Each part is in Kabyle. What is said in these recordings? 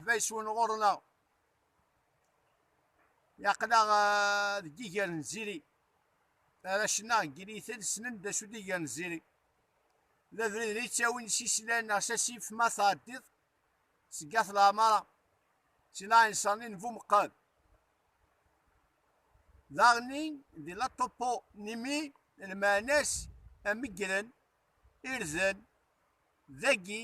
Bayeswen ɣur-neɣ yaql-aɣ eh, deg iger n ziri arrac-nneɣ deg yinitel ssnen d acu d iger n ziri d abrid n yettawin s islan neɣ s asif ma tɛeddiḍ seg at leɛmara si laɛinṣer-nni n bumeqqad daɣen-nni di la topo nimi lmeɛna-s amegren irden dagi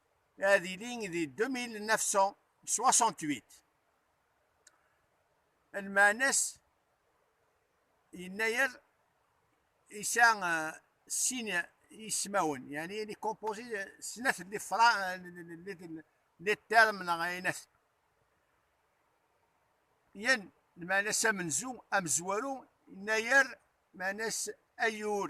ad yili di 2968 lmeɛna-s yennayer isa sin ismawen yani il est composé de snat li fra li term neɣ aynat yan lmeɛna-s amenzu amezwaru yennayer meɛna-s ayur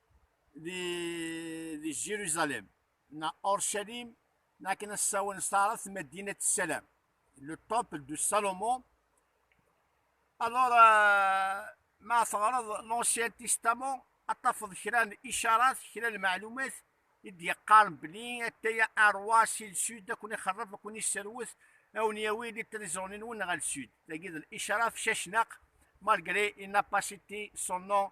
di, di Jérusalem, na Orchalim, na kena sawan starat Medina Salam, le temple de Salomon. Alors, euh, ma tɣaraḍ l'Ancien Testament, a tafeḍ kra n icarat, kra n meɛlumat, i d-yeqqar belli ataya arwa si lsud ad ken-ixerref, ad ken-isserwet, ad wen-yawi di trizoni-nwen ɣer lsud. Tagi d l'icarat cacnaq, malgré il n'a pas cité son nom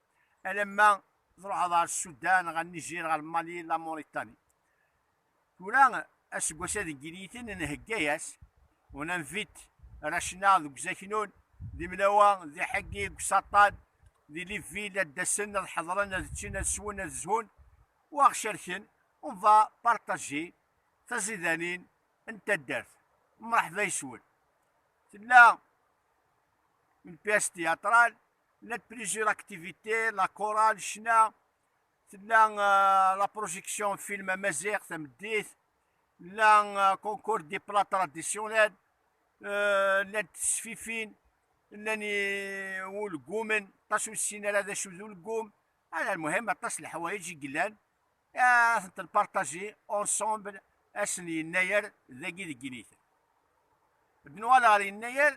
alamma tṛuḥeḍ ɣer Sudan, ɣer Nijir, ɣer Mali, la Mauritanie. Tura aseggas ad giliten nhegga-yas, on invite Rachna deg uzaknun, d imnawa, d iḥeggi, deg usaṭṭan, di Liverpool ad d-asen, ad ḥeḍren, ad ččen, ad swen, ad zhun, u aɣ-cerken, on va partager taẓidanin n taddart. Mṛeḥba yes-wen. Tella une pièce théâtrale la plusieurs activités la chorale ccna tella euh, la projection film amaziɣ tameddit la euh, concours des plats traditionnels euh, la tesfifin llan wulgumen aṭas ur ssin ara d acu d ulgum ala lmuhim aṭas leḥwayeǧ i yellan ad tent-npartaji ensemble asen yennayer dagi deg initen bnwal ɣer yennayer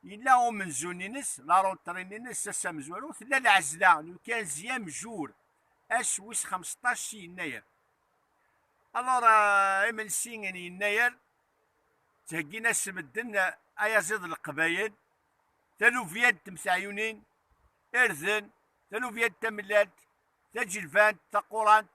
Yella umenzu-nnes, laruṭri-nnes, ass amezwaru, tella lɛezla n ukanzi amjur, ass wis xemseṭṭac si yennayer. Alors, euh, imensi n yennayer, ttheggin-as medden ayaziḍ n Leqbayel, taluvya n temteɛyunin, irden, taluvya n tamellalt, taǧelbant, taqurant,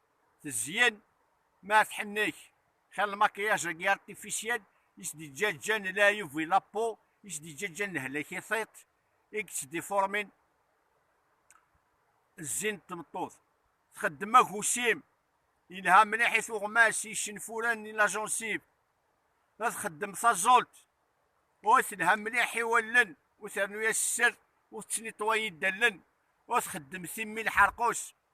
tezyen ma tḥennek xir lmakiyaj agi artificiel i s-d-yeǧǧaǧǧan leɛyub i lapo i s-d-yeǧǧaǧǧan lehlak i tiṭ i yettdifuṛmin zzin n tmeṭṭut txeddem agusim yelha mliḥ i tuɣmas i yicenfuren i lajunsib ad txeddem taẓult ur telha mliḥ i wallen ur ternu-yas sser ur tettniṭwa yidallen ur txeddem timmi lḥerqus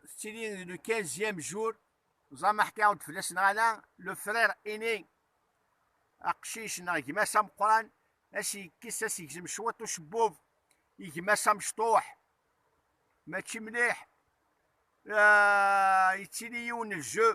Tettili le 15e jour, ẓama ḥkiɣ-d fell-as neɣ ala, le frère aîné, aqcic neɣ gma-s ameqqran, ad s-yekkes, ad s-yegzem cwiṭ ucebbub, i gma-s amecṭuḥ, mačči mliḥ, yettili yiwen n ljeu,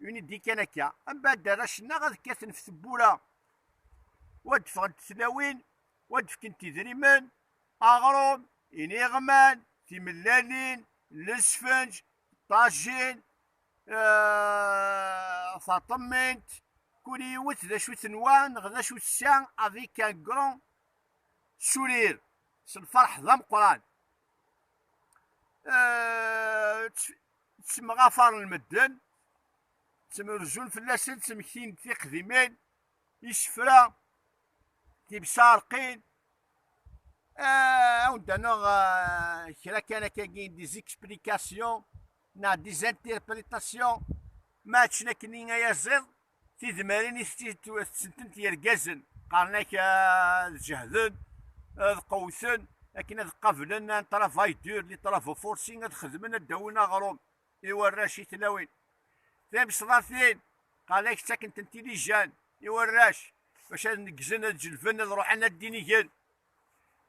Unidi kan akka, am bad arrac-nneɣ ad kkaten ɣef tewwura, wa d-ffɣent tlawin, wa d-fkent idrimen, aɣrum, iniɣman, timellalin, lesfenj, ṭajin, eh, taṭemmint, kul yiwet d acu tenwa neɣ d acu tessa avec un grand sourire, s lferḥ d ameqqran. Eh, ttemɣafaren medden, ttemrezun fell-asen, ttmektin-d tiqdimin, isefra, tibsarqin, ah, awen-d anneɣ ah, kra kan akkagi des explications neɣ des interprétations ma akken akken i ayaziḍ Tidmarin i t-id-tessentint yergazen, qqaren-ak ad jehden, ad qewwten, akken ad qablen un travail dur, li travaux forcés, ad xedmen ad d-awin aɣrum i warrac i tlawin. Timesḍatin, qqaren-ak ttakken-tent ilijan i warrac, bac ad neggzen, ad jelben, ad ruḥen ad d-inigen.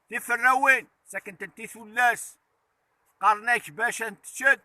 Tiferrawin, ttakken-tent i tullas, qqaren-ak bac ad neččent,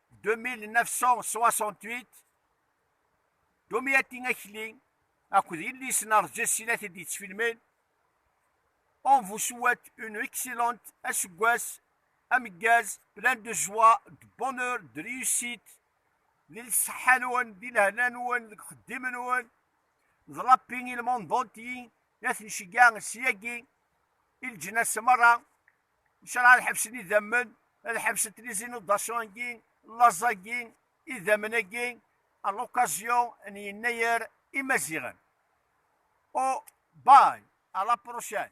2968 Domiati Akli akked yelli-s n Rǧas i la t-id-yettfilmen On vous souhaite une excellente aseggas ameggaz plein de joie, de bonheur, de réussite di lṣeḥḥa-nwen, di lehna-nwen, deg uxeddim-nwen d Rabbi i lmundunti la ten-ceggeɛ syagi i leǧnas merra Ncṛeɛ ad ḥebsen idammen, ad ḥebsen tlizinudasyon-agi, laẓ-agi, idammen-agi, à l'occasion n Yennayer imaziɣen. Oh, bye, à la prochaine!